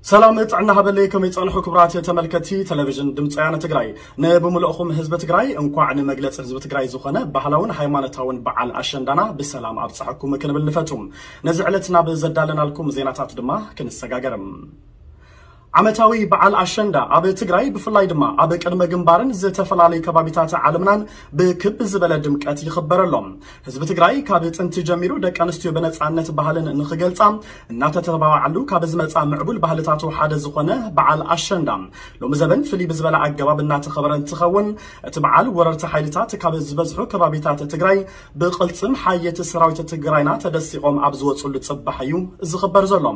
ሰላም ጥዕና ሃበለይ ከመይ ጸንሑ ክብራት ተመልከቲ ቴሌቪዥን ድምፂ ወያነ ትግራይ ንብምልእኹም ህዝቢ ትግራይ እንኳዕ ንመግለፂ ህዝቢ ትግራይ ዝኾነ ባህላውን ሃይማኖታውን በዓል ኣሸንዳና ብሰላም ኣብፀሐኩም ክንብል ንፈቱ ነዚ ዕለት ናብ ዘዳለናልኩም ዜናታት ድማ ክንሰጋገርም ዓመታዊ በዓል ኣሸንዳ ኣብ ትግራይ ብፍላይ ድማ ኣብ ቅድመ ግንባርን ዝተፈላለዩ ከባቢታት ዓለምናን ብክብ ዝበለ ድምቀት ይኽበር ኣሎ። ህዝቢ ትግራይ ካብ ጥንቲ ጀሚሩ ደቂ ኣንስትዮ ብነፃነት ባህልን ንኽገልፃ እናተተባባዓሉ ካብ ዝመፃ ምዕቡል ባህልታቱ ሓደ ዝኾነ በዓል ኣሸንዳ ሎሚ ዘበን ፍልይ ብዝበለ ኣገባብ እናተኸበረ እንትኸውን እቲ በዓል ወረርቲ ሓይልታት ካብ ዝበዝሑ ከባቢታት ትግራይ ብቕልፅም ሓየት ሰራዊት ትግራይና ተደሲቖም ኣብ ዝወፅሉ ፅባሕ እዩ ዝኽበር ዘሎ።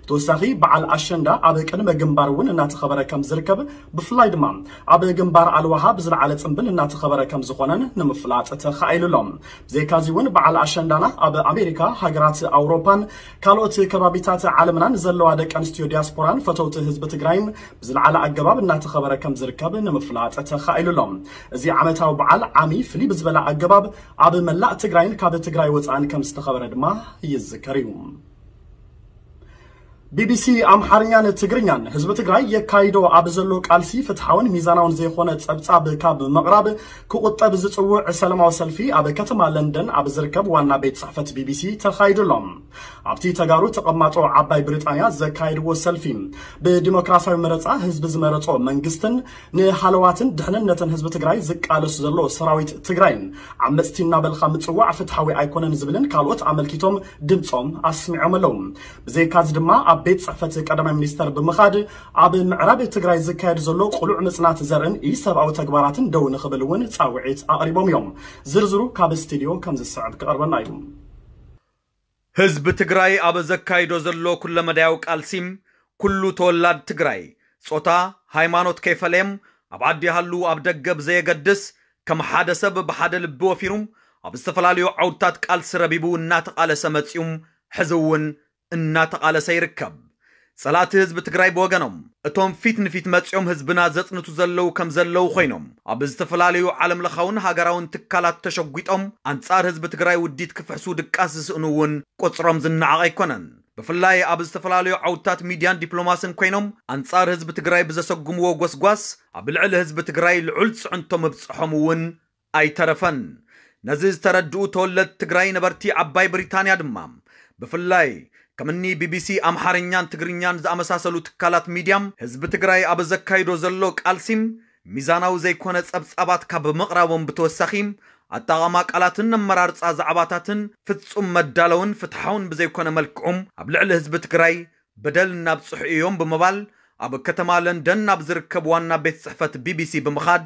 ብተወሳኺ በዓል ኣሸንዳ ኣብ ቅድመ ግንባር እውን እናተኸበረ ከም ዝርከብ ብፍላይ ድማ ኣብ ግንባር ኣልዋሃ ብዝለዓለ ፅምብል እናተኸበረ ከም ዝኾነን ንምፍላጥ ተኻኢሉ ኣሎ። ብዘይካዚ እውን በዓል ኣሸንዳና ኣብ ኣሜሪካ፣ ሃገራት ኣውሮፓን ካልኦት ከባቢታት ዓለምናን ዘለዋ ደቂ ኣንስትዮ ዲያስፖራን ፈተውቲ ህዝቢ ትግራይን ብዝለዓለ ኣገባብ እናተኸበረ ከም ዝርከብ ንምፍላጥ ተኻኢሉ ኣሎ። እዚ ዓመታዊ በዓል ዓሚ ፍልይ ብዝበለ ኣገባብ ኣብ መላእ ትግራይን ካብ ትግራይ ወፃእን ከም ዝተኸበረ ድማ ይዝከር እዩ። ቢቢሲ ኣምሓርኛን ትግርኛን ህዝቢ ትግራይ የካይዶ ኣብ ዘሎ ቃልሲ ፍትሓውን ሚዛናውን ዘይኮነ ጸብጻብ ካብ ምቕራብ ክቑጠብ ዝጽውዕ ሰለማዊ ሰልፊ ኣብ ከተማ ለንደን ኣብ ዝርከብ ዋና ቤት ጽሕፈት ቢቢሲ ተኻይዱ ኣሎ። ኣብቲ ተጋሩ ተቐማጦ ዓባይ ብሪጣንያ ዘካየድዎ ሰልፊ ብዲሞክራሲያዊ መረጻ ህዝቢ ዝመረጾ መንግስትን ንሃለዋትን ድሕንነትን ህዝቢ ትግራይ ዝቃለስ ዘሎ ሰራዊት ትግራይን ዓመፅቲ እናበልኻ ምፅዋዕ ፍትሓዊ ኣይኮነን ዝብልን ካልኦት ኣመልኪቶም ድምፆም ኣስሚዖም ኣለው። ብዘይካዚ ድማ ኣብ ቤት ፅሕፈት ቀዳማይ ሚኒስተር ብምኻድ ኣብ ምዕራብ ትግራይ ዝካየድ ዘሎ ቅሉዕ ምፅናት ዘርእን ኢሰብኣዊ ተግባራትን ደው ንኽብል እውን ፃውዒት ኣቕሪቦም እዮም። ዝርዝሩ ካብ ስቲድዮ ከምዝስዕብ ክቐርበልና እዩ። ህዝቢ ትግራይ ኣብ ዘካይዶ ዘሎ ኩለመዳያዊ ቃልሲ ኩሉ ተወላድ ትግራይ ጾታ፣ ሃይማኖት ከይፈለየም ኣብ ዓዲ ይሃሉ ኣብ ደገ ብዘየገድስ ከም ሓደ ሰብ ብሓደ ልቢ ወፊሩ ኣብ ዝተፈላለዩ ዓውድታት ቃልሲ ረቢቡ እናተቓለሰ መጺኡም ሕዚ እውን እናተቓለሰ ይርከብ። ፀላእቲ ህዝቢ ትግራይ ብወገኖም እቶም ፊት ንፊት መፂኦም ህዝብና ዘፅንቱ ዘለዉ ከም ዘለዉ ኮይኖም ኣብ ዝተፈላለዩ ዓለም ለኻውን ሃገራውን ትካላት ተሸጒጦም ኣንፃር ህዝቢ ትግራይ ውዲት ክፍሕሱ ድቃስ ዝስእኑ እውን ቁፅሮም ዝነዓቕ ኣይኮነን። ብፍላይ ኣብ ዝተፈላለዩ ዓውድታት ሚድያን ዲፕሎማስን ኮይኖም ኣንፃር ህዝቢ ትግራይ ብዘሰጉምዎ ጎስጓስ ኣብ ልዕሊ ህዝቢ ትግራይ ልዑል ፅዕንቶ ምብፀሖም እውን ኣይተረፈን። ነዚ ዝተረድኡ ተወለድቲ ትግራይ ነበርቲ ዓባይ ብሪታንያ ድማ ብፍላይ ከምኒ ቢቢሲ ኣምሓርኛን ትግርኛን ዝኣመሳሰሉ ትካላት ሚድያ ህዝቢ ትግራይ ኣብ ዘካይዶ ዘሎ ቃልሲ ሚዛናዊ ዘይኮነ ፀብፃባት ካብ ምቕራቦም ብተወሳኺ ኣጠቓቕማ ቃላትን ኣመራርፃ ዛዕባታትን ፍፁም መዳለውን ፍትሓውን ብዘይኮነ መልክዑ ኣብ ልዕሊ ህዝቢ ትግራይ በደል እናብፅሑ እዮም ብምባል ኣብ ከተማ ለንደን ናብ ዝርከብ ዋና ቤት ፅሕፈት ቢቢሲ ብምኻድ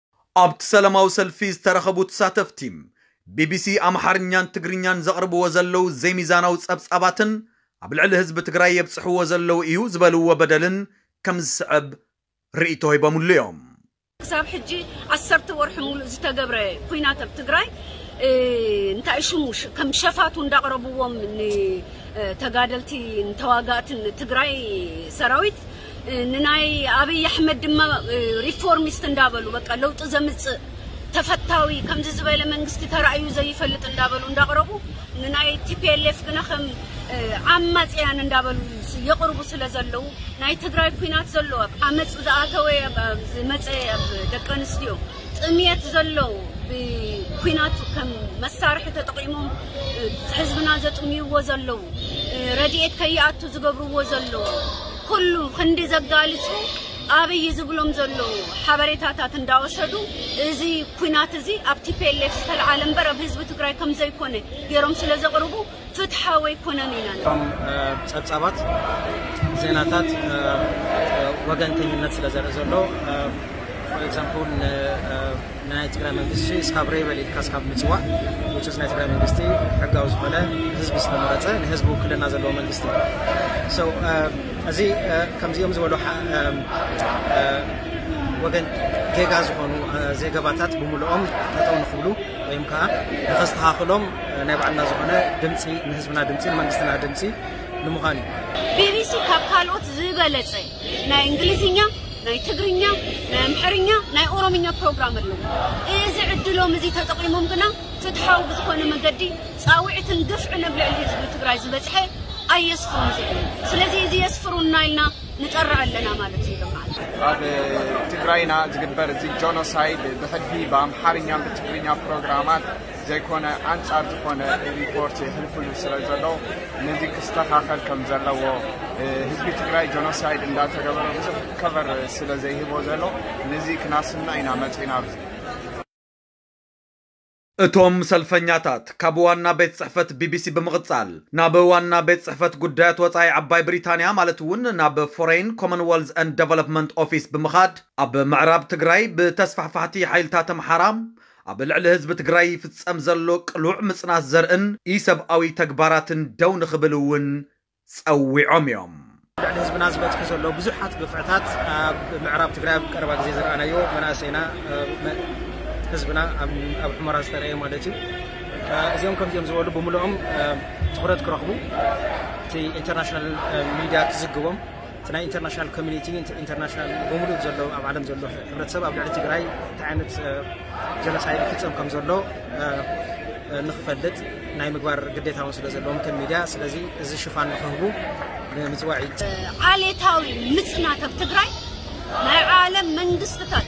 ኣብቲ ሰለማዊ ሰልፊ ዝተረኸቡ ተሳተፍቲ፣ ቢቢሲ ኣምሓርኛን ትግርኛን ዘቕርብዎ ዘለዉ ዘይሚዛናዊ ጸብጻባትን ኣብ ልዕሊ ህዝቢ ትግራይ የብጽሕዎ ዘለዉ እዩ ዝበልዎ በደልን ከም ዝስዕብ ርእይቶ ሂቦምሉ እዮም። ክሳብ ሕጂ ዓሰርተ ወርሒ ሙሉእ ዝተገብረ ኹናት ኣብ ትግራይ እንታይ ሽሙ ከም ሸፋቱ እንዳቕረብዎም ንተጋደልቲ ንተዋጋእትን ትግራይ ሰራዊት ንናይ ኣብይ ኣሕመድ ድማ ሪፎርሚስት እንዳበሉ በቃ ለውጢ ዘምጽእ ተፈታዊ ከምዚ ዝበለ መንግስቲ ተራእዩ ዘይፈልጥ እንዳበሉ እንዳቕረቡ ንናይ ቲፒኤልኤፍ ግና ከም ዓማጽያን እንዳበሉ የቕርቡ ስለ ዘለዉ ናይ ትግራይ ኩናት ዘሎ ኣብ ዓመጽ ዝኣተወ ዝመጸ ደቂ ኣንስትዮ ጥምየት ዘሎ ብኩናት ከም መሳርሒ ተጠቒሞም ህዝብና ዘጥምይዎ ዘለዉ ረድኤት ከይኣቱ ዝገብርዎ ዘለዉ ኩሉ ክንዲ ዘጋልጹ ኣብይ ዝብሎም ዘለዉ ሓበሬታታት እንዳወሰዱ እዚ ኩናት እዚ ኣብ ቲፒኤልኤፍ ዝተልዓለ እምበር ኣብ ህዝቢ ትግራይ ከም ዘይኮነ ገይሮም ስለ ዘቕርቡ ፍትሓዊ ኣይኮነን ኢና ንብል። እቶም ጸብጻባት ዜናታት ወገንተኝነት ስለ ዘርኢ ዘሎ for example ንናይ ትግራይ መንግስቲ እስካብ ሬበል ኢልካ እስካብ ምጽዋዕ which is ናይ ትግራይ መንግስቲ ሕጋዊ ዝኾነ ህዝቢ ዝተመረጸ ንህዝቢ ውክልና ዘለዎ መንግስቲ እዩ so እዚ ከምዚኦም ዝበሉ ወገን ጌጋ ዝኾኑ ዜገባታት ብምልኦም ጠጠው ንክብሉ ወይም ከዓ ንኸስተኻኽሎም ናይ ባዕልና ዝኾነ ድምፂ ንህዝብና ድምፂ ንመንግስትና ድምፂ ንምዃን እዩ። ቢቢሲ ካብ ካልኦት ዝበለፀ ናይ እንግሊዝኛ ናይ ትግርኛ ናይ ኣምሐርኛ ናይ ኦሮምኛ ፕሮግራም ኣሎ እዚ ዕድሎም እዚ ተጠቂሞም ግና ፍትሓዊ ብዝኾነ መገዲ ፃውዒትን ግፍዕን ኣብ ልዕሊ ህዝቢ ትግራይ ዝበፅሐ ኣየስፍሩን ዝብሉ ስለዚ እዚ የስፍሩና ኢልና ንጠርዕ ኣለና ማለት እዩ ልምዓት ኣብ ትግራይና ዝግበር እዚ ጆኖሳይድ ብሕድፊ ብኣምሓርኛን ብትግርኛ ፕሮግራማት ዘይኮነ ኣንጻር ዝኾነ ሪፖርት የሕልፍሉ ስለ ዘሎ ነዚ ክስተኻኸል ከም ዘለዎ ህዝቢ ትግራይ ጆኖሳይድ እንዳተገበረ ብዙሕ ከቨር ስለ ዘይህቦ ዘሎ ነዚ ክናስና ኢና መጺና ኣብዚ እቶም ሰልፈኛታት ካብ ዋና ቤት ጽሕፈት ቢቢሲ ብምቕጻል ናብ ዋና ቤት ጽሕፈት ጉዳያት ወጻኢ ዓባይ ብሪታንያ ማለት እውን ናብ ፎረይን ኮመንወልዝ ኤንድ ደቨሎፕመንት ኦፊስ ብምኻድ ኣብ ምዕራብ ትግራይ ብተስፋሕፋሕቲ ሓይልታት ኣምሓራ ኣብ ልዕሊ ህዝቢ ትግራይ ይፍፀም ዘሎ ቅሉዕ ምፅናት ዘርእን ኢሰብኣዊ ተግባራትን ደው ንኽብል እውን ፀዊዖም እዮም። ኣብ ልዕሊ ህዝብና ዝበፅሑ ዘሎ ብዙሓት ግፍዕታት ኣብ ምዕራብ ትግራይ ኣብ ቀረባ ግዜ ዝረኣናዮ መናእሰይና ህዝብና ኣብ ሑመራ ዝተረእየ ማለት እዩ እዚኦም ከምዚኦም ዝበሉ ብምልኦም ትኹረት ክረኽቡ እቲ ኢንተርናሽናል ሚድያ ክዝግቦም እቲ ናይ ኢንተርናሽናል ኮሚኒቲ ኢንተርናሽናል ብምሉእ ዘሎ ኣብ ዓለም ዘሎ ሕብረተሰብ ኣብ ልዕሊ ትግራይ እንታይ ዓይነት ጀኖሳይድ ይፍፀም ከም ዘሎ ንክፈልጥ ናይ ምግባር ግዴታ እውን ስለ ዘለዎም ከም ሚድያ ስለዚ እዚ ሽፋን ንክህቡ ንምፅዋዕ እዩ። ዓሌታዊ ምፅናት ኣብ ትግራይ ናይ ዓለም መንግስትታት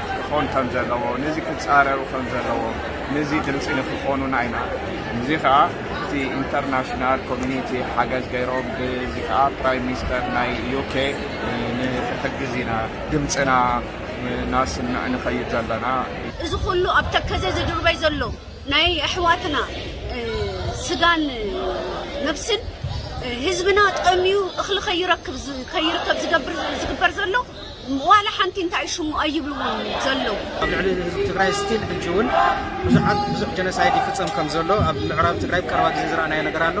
ክኾን ከም ዘለዎ ነዚ ክጻረሩ ከም ዘለዎ ነዚ ድምጺ ንክኾኑና ኢና እዚ ከኣ እቲ ኢንተርናሽናል ኮሚኒቲ ሓገዝ ገይሮም ብዚ ከኣ ፕራይም ሚኒስተር ናይ ዩኬ ንክሕግዝ ኢና ድምጽና ናስምዕ ንኸይድ ዘለና። እዚ ኩሉ ኣብ ተከዘ ዝድርበይ ዘሎ ናይ ኣሕዋትና ስጋን ነብስን ህዝብና ጠምዩ እኽሊ ከይረክብ ከይርከብ ዝገብር ዝግበር ዘሎ ዋላ ሓንቲ እንታይ እዩ ሽሙ ኣይብልዎን ዘለዉ። ኣብ ልዕሊ ህዝቢ ትግራይ ስቲል ሕጂ እውን ብዙሓት ብዙሕ ጀነሳይድ ይፍፀም ከም ዘሎ ኣብ ምዕራብ ትግራይ ቀረባ ግዜ ዝረኣናዮ ነገር ኣሎ።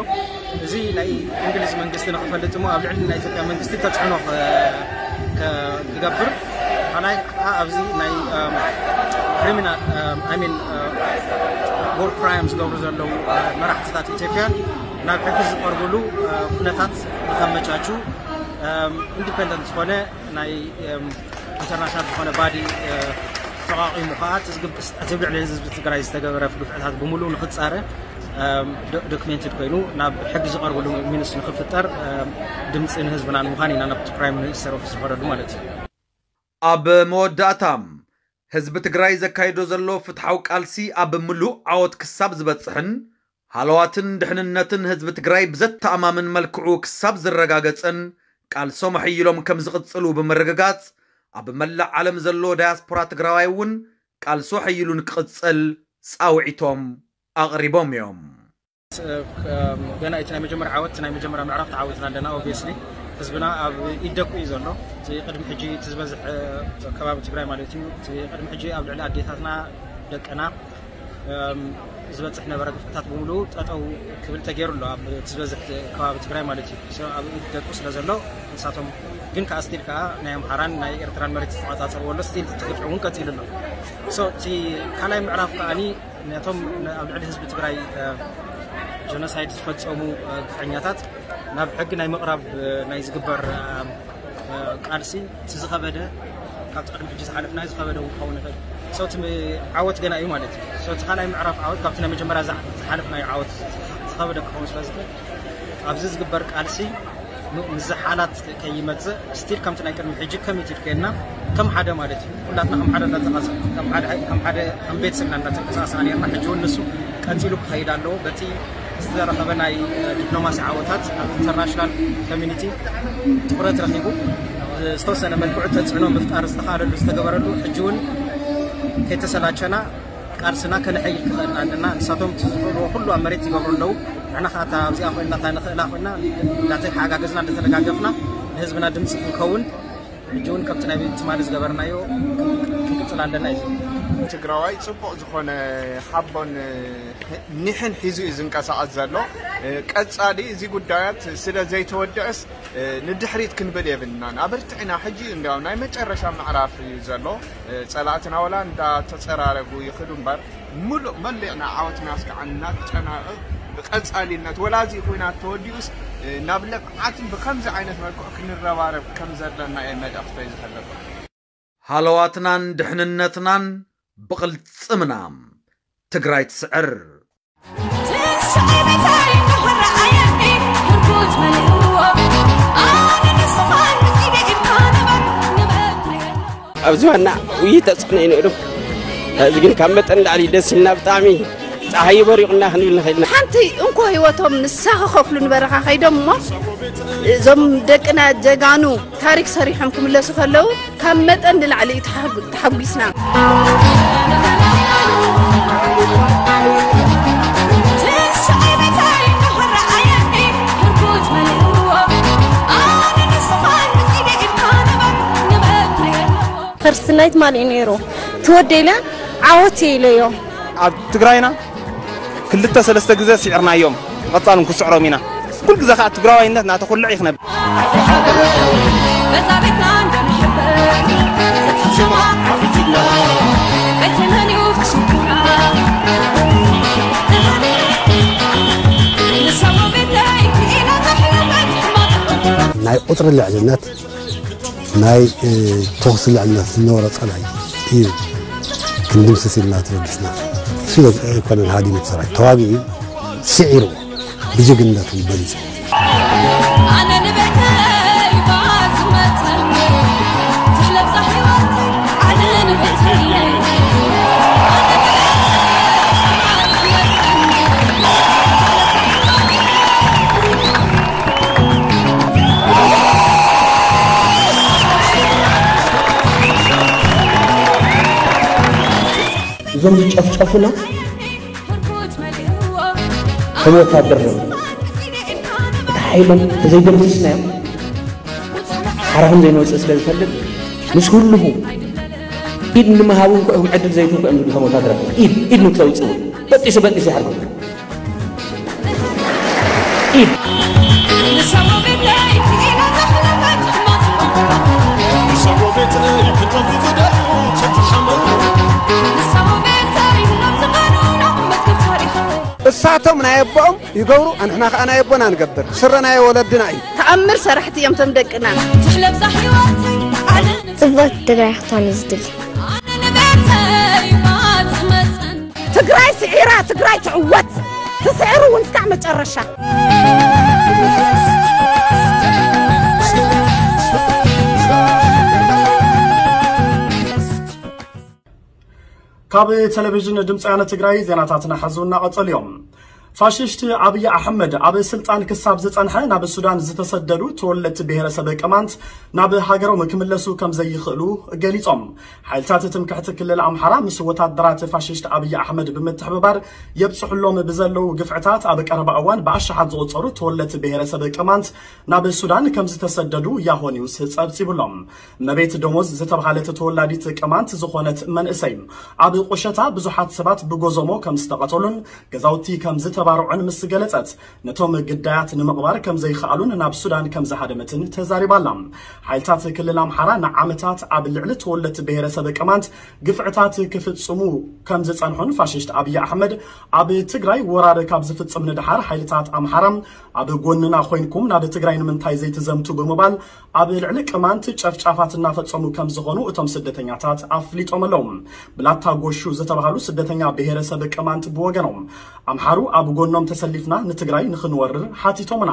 እዚ ናይ እንግሊዝ መንግስቲ ንክፈልጥ እሞ ኣብ ልዕሊ ናይ ኢትዮጵያ መንግስቲ ተፅዕኖ ክገብር ካልኣይ ከዓ ኣብዚ ናይ ክሪሚናል ሚን ወር ክራይም ዝገብሩ ዘለዉ መራሕትታት ኢትዮጵያ ናብ ሕጊ ዝቀርብሉ ኩነታት ንከመቻቹ ኢንዲፐንደንት ዝኾነ ናይ ኢንተርናሽናል ዝኾነ ባዲ ተቋቒሙ ከዓ እቲ ኣብ ልዕሊ ህዝቢ ትግራይ ዝተገበረ ግፍዕታት ብምሉእ ንክፃረ ዶክሜንትድ ኮይኑ ናብ ሕጊ ዝቐርብሉ ሚንስ ንክፍጠር ድምፂ ንህዝብና ንምዃን ኢና ናብ ፕራይም ሚኒስተር ኦፊስ ዝኸደሉ ማለት እዩ። ኣብ መወዳእታ፣ ህዝቢ ትግራይ ዘካይዶ ዘሎ ፍትሓዊ ቃልሲ ኣብ ምሉእ ዓወት ክሳብ ዝበጽሕን ሃለዋትን ድሕንነትን ህዝቢ ትግራይ ብዘተኣማምን መልክዑ ክሳብ ዝረጋገጽን ቃልሶም ኣሐይሎም ከምዝቕጽሉ ብምርግጋጽ ኣብ መላእ ዓለም ዘሎ ዳያስፖራ ትግራዋይ እውን ቃልሱ ኣሐይሉ ንክቕጽል ጻውዒቶም ኣቕሪቦም እዮም። ገና እቲ ናይ መጀመርያ ዓወት ናይ መጀመርያ ምዕራፍ ተዓዊትና ኣለና ኦብስሊ ህዝብና ኣብ ኢድ ደቁ እዩ ዘሎ እቲ ቅድሚ ሕጂ እቲ ዝበዝሕ ከባቢ ትግራይ ማለት እዩ እቲ ቅድሚ ሕጂ ኣብ ልዕሊ ኣዴታትና ደቅና ዝበፅሕ ነበረ ግፍዕታት ብምሉ ጠጠው ክብል ተገይሩ ኣሎ ኣብ እቲ ዝበዝሕ ከባቢ ትግራይ ማለት እዩ ኣብ ኢድ ደቁ ስለ ዘሎ ንሳቶም ግን ከዓ ስቲል ከዓ ናይ ኣምሓራን ናይ ኤርትራን መሬት ዝተቆፃፀርዎ ኣሎ ስቲል እቲ ግፍዒ እውን ቀፂሉ ኣሎ እቲ ካልኣይ ምዕራፍ ከዓኒ ነቶም ኣብ ልዕሊ ህዝቢ ትግራይ ጀኖሳይድ ዝፈፀሙ ግፈኛታት ናብ ሕጊ ናይ ምቕራብ ናይ ዝግበር ቃልሲ እቲ ዝኸበደ ካብቲ ቅድሚ ሕጂ ዝሓለፍናዮ ዝኸበደ እውን ክኸውን ይኽእል ሰው እቲ ዓወት ገና እዩ ማለት እዩ ሰው እቲ ካልኣይ ምዕራፍ ዓወት ካብቲ ናይ መጀመርያ ዝሓለፍናዮ ዓወት ዝኸበደ ክኸውን ስለዝኽእል ኣብዚ ዝግበር ቃልሲ ምዝሓላት ከይመጽእ ስቲል ከምቲ ናይ ቅድሚ ሕጂ ኮሚትድ ኮይንና ከም ሓደ ማለት እዩ ኩላትና ከም ሓደ እናተቃሰ ከም ሓደ ከም ሓደ ከም ቤተሰብ ኢና እናተንቀሳቀስና ነርና ሕጂ እውን ንሱ ቀጺሉ ክኸይድ ኣለዎ በቲ ዝተረኸበ ናይ ዲፕሎማሲ ዓወታት ኣብ ኢንተርናሽናል ኮሚኒቲ ትኩረት ረኺቡ ዝተወሰነ መልክዑ ተፅዕኖ ምፍጣር ዝተኻለሉ ዝተገበረሉ ሕጂ እውን ከይተሰላቸና ቃልስና ከነሐይል ክኸእልና ኣለና ንሳቶም እቲ ዝኽእልዎ ኩሉ ኣብ መሬት ይገብሩ ኣለዉ ንሕና ከኣ እታ ኣብዚኣ ኮይንና እታ ንኽእላ ኮይንና እንዳተሓጋገዝና እንዳተደጋገፍና ንህዝብና ድምጺ ክንከውን ሕጂ እውን ከምቲ ናይ ትማሊ ዝገበርናዮ ክንቅጽል ኣለና እዩ ዝብል። ትግራዋይ ፅቡቕ ዝኾነ ሓቦን ኒሕን ሒዙ እዩ ዝንቀሳቐስ ዘሎ። ቀፃሊ እዚ ጉዳያት ስለ ዘይተወድእስ ንድሕሪት ክንብል የብልናን ኣበርቲዕና ሕጂ እዩ እንድያው ናይ መጨረሻ ምዕራፍ እዩ ዘሎ ጸላእትና ወላ እንዳ ተጸራረጉ ይኽዱ እምበር ምሉእ መሊዕና ዓወትና እስካዕ እናተጨናቕቕ ብቀጻሊነት ወላ እዚ ኹናት ተወዲኡስ ናብ ልምዓትን ብኸምዚ ዓይነት መልክዑ ክንረባረብ ከምዘለና እየ መልእኽተይ ዝሕልፍ። ሃለዋትናን ድሕንነትናን ብቕልፅምና! ትግራይ ትስዕር! ኣብዚ ዋና ውይይት ተፅዕኖ እዩ ነይሩ እዚ ግን ካብ መጠን ላዕሊ ደስ ኢልና ብጣዕሚ ፀሓይ በሪቑና ክንብል ንኽእል ኢና ሓንቲ እንኮ ህይወቶም ንሳ ክኸፍሉ ንበረኻ ከይዶም እሞ እዞም ደቅና ጀጋኑ ታሪክ ሰሪሖም ክምለሱ ከለው ካብ መጠን ንላዕሊ እዩ ተሓጉ- ተሓጒስና ፈርስት ናይት ማን እዩ ነይሩ ትወደኢለ ዓወት ኢለዮ ኣብ ትግራይና ክልተ ሰለስተ ግዘ ሲዕርናዮም ብቀፃሊ ውን ክስዕሮም ኢና ኩሉ ግዘ ከዓ ትግራዋይነት እናተኹልዕ እዩ ክነብር በዛ ቤትና እንደምሕበር እቲ ሽማ ሓፊትና በቲ መን እዩ ክስኩና ንሰማ ቤትለይ ክኢላ ተሕለፈት ሕማቅ ናይ ቁፅሪ ልዕልነት ናይ ተኹሲ ልዕልነት ዝነበሮ ፀላኢ እዩ ክንድምስስ ኢልና ተበጊስና ስለ ኮሎኔል ሃዲሙ ሰራዊት ተዋጊኡ ስዒርዎ ብጅግንነቱ በሊፁ እዞም ዝጨፍጨፉና ከም ወታደር ነው እቲ ሓይሎም ተዘይደምስስናዮም ሓራ ከም ዘይንወፅእ ስለ ዝፈልጥ ምስ ህልኹ ኢድ ንምሃብ እውን ክዕም ዕድል ዘይትንኩ እዮም ዝብሉ ከም ወታደራት ኢድ ኢድ ንክተውፅእ እውን በጢሱ በጢሱ ይሓርጉ እሳቶም ናይ ኣቦኦም ይገብሩ ኣንሕና ከዓ ናይ ኣቦና ንገብር ስረ ናይ ወለድና እዩ ተኣምር ሰራሕቲ እዮም ቶም ደቅና ጽብቕቲ ትግራይ ክትኾን እዩ ዝድሊ ትግራይ ስዒራ ትግራይ ትዕወት ትስዕር እውን እስካዕ መጨረሻ። ካብ ቴሌቪዥን ድምፂ ወያነ ትግራይ ዜናታትና ሐዚ እናቐፀሉ እዮም። ፋሽስት ኣብይ ኣሕመድ ኣብ ስልጣን ክሳብ ዝጸንሐ ናብ ሱዳን ዝተሰደዱ ተወለድቲ ብሄረሰብ ቅማንት ናብ ሃገሮም ክምለሱ ከምዘይኽእሉ ገሊጾም። ሓይልታት ትምክሕቲ ክልል ኣምሓራ ምስ ወታደራት ፋሽስት ኣብይ ኣሕመድ ብምትሕብባር የብጽሑሎም ብዘለዉ ግፍዕታት ኣብ ቀረባ እዋን ብኣሽሓት ዝቑጸሩ ተወለድቲ ብሄረሰብ ቅማንት ናብ ሱዳን ከምዝተሰደዱ ያሆ ኒውስ ጸብጺቡ'ሎ። እመቤት ደሞዝ ዝተብሃለት ተወላዲት ቅማንት ዝኾነት መንእሰይ፣ ኣብ ቁሸታ ብዙሓት ሰባት ብጎዞሞ ከም ዝተቐተሉን ገዛውቲ ከም ዝተባርዑን ምስ ገለጸት፣ ነቶም ግዳያት ንምቕባር ከም ዘይኸኣሉን ናብ ሱዳን ከም ዝሃደመትን ተዛሪባ ኣላ። ሓይልታት ክልል ኣምሓራ ንዓመታት ኣብ ልዕሊ ተወለድቲ ብሄረሰብ ቅማንት ግፍዕታት ክፍጽሙ ከም ዝጸንሑን ፋሽስት ኣብይ ኣሕመድ ኣብ ትግራይ ወራር ካብ ዝፍጽም ንደሓር ሓይልታት ኣምሓራ ኣብ ጎንና ኮይንኩም ናብ ትግራይ ንምንታይ ዘይትዘምቱ ብምባል ኣብ ልዕሊ ቅማንት ጨፍጫፋት እናፈፀሙ ከምዝኾኑ እቶም ስደተኛታት ኣፍሊጦም ኣለው። ብላታ ጎሹ ዝተብሃሉ ስደተኛ ብሄረሰብ ቅማንት ብወገኖም፣ ኣምሓሩ ኣብ ጎኖም ተሰሊፍና ንትግራይ ንኽንወርር ሓቲቶምና፣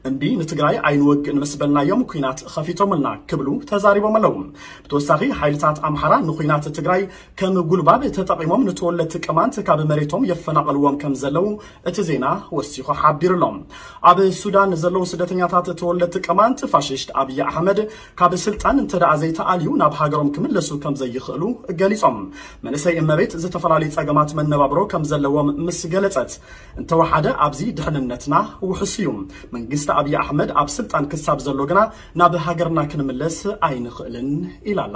እምቢ ንትግራይ ኣይንወግእን ምስ በልናዮም ኲናት ኸፊቶምልና ክብሉ ተዛሪቦም ኣለው። ብተወሳኺ ሓይልታት ኣምሓራ ንዂናት ትግራይ ከም ጉልባብ ተጠቒሞም ንተወለድቲ ቅማንት ካብ መሬቶም የፈናቕልዎም ከምዘለው እቲ ዜና ወሲኹ ሓቢሩ'ሎ። ኣብ ሱዳን ንዘለዉ ስደተኛታት ተወለድቲ ቅማንት፣ ፋሽስት ኣብይ ኣሕመድ ካብ ስልጣን እንተድኣ ዘይተኣልዩ ናብ ሃገሮም ክምለሱ ከምዘይኽእሉ ገሊጾም። መንእሰይ እመቤት ዝተፈላለዩ ጸገማት መነባብሮ ከምዘለዎም ምስ ገለጸት፣ እንተወሓደ ኣብዚ ድሕንነትና ውሑስ'ዩ። መንግስቲ ኣብይ ኣሕመድ ኣብ ስልጣን ክሳብ ዘሎ ግና ናብ ሃገርና ክንምለስ ኣይንኽእልን ኢላ'ላ።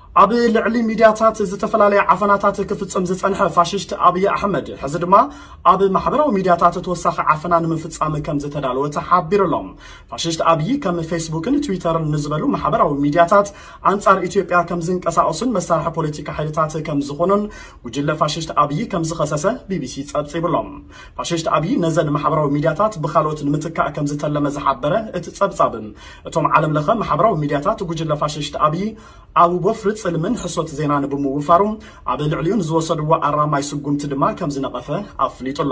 ኣብ ልዕሊ ሚድያታት ዝተፈላለየ ዓፈናታት ክፍፅም ዝፀንሐ ፋሽስት ኣብይ ኣሕመድ ሕዚ ድማ ኣብ ማሕበራዊ ሚድያታት ተወሳኺ ዓፈና ንምፍፃም ከምዝተዳለወ ተሓቢሩ ኣሎ። ፋሽስት ኣብይ ከም ፌስቡክን ትዊተርን ንዝበሉ ማሕበራዊ ሚድያታት ኣንፃር ኢትዮጵያ ከምዝንቀሳቀሱን መሳርሒ ፖለቲካ ሓይልታት ከምዝኾኑን ጉጅለ ፋሽስት ኣብይ ከምዝኸሰሰ ቢቢሲ ፀብፂቡ ኣሎ። ፋሽስት ኣብይ ነዘን ማሕበራዊ ሚድያታት ብካልኦት ንምትካእ ከምዝተለመ ዝሓበረ እቲ ፀብፃብ እቶም ዓለም ለኸ ማሕበራዊ ሚድያታት ጉጅለ ፋሽስት ኣብይ ኣብ ወፍሪ ጽልምን ሕሶት ዜናን ብምውፋሩ ኣብ ልዕሊኡ ንዝወሰድዎ ኣራማይ ስጉምቲ ድማ ከምዝነቐፈ ኣፍሊጡ ኣሎ።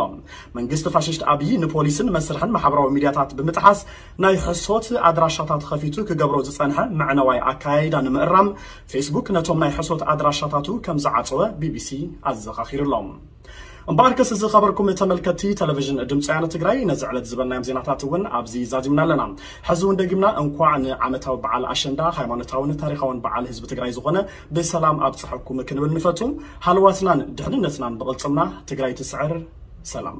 መንግስቲ ፋሽስት ኣብይ ንፖሊስን መስርሕን ማሕበራዊ ሚድያታት ብምጥሓስ ናይ ሕሶት ኣድራሻታት ኸፊቱ ክገብሮ ዝጸንሐ መዕነዋይ ኣከያይዳ ንምእራም ፌስቡክ ነቶም ናይ ሕሶት ኣድራሻታቱ ከምዝዓጸወ ቢቢሲ ኣዘኻኺሩ ኣሎ። እምበኣርከስ ዝኸበርኩም ተመልከትቲ ተለቪዥን ድምፂ ወያነ ትግራይ ነዚ ዕለት ዝበልናዮም ዜናታት እውን ኣብዚ ዛዚምና ኣለና። ሕዚ እውን ደጊምና እንኳዕ ንዓመታዊ በዓል ኣሸንዳ ሃይማኖታውን ታሪኻውን በዓል ህዝቢ ትግራይ ዝኾነ ብሰላም ኣብፀሐኩም ክንብል ንፈቱ። ሃለዋትናን ድሕንነትናን ብቕልፅምና! ትግራይ ትስዕር! ሰላም!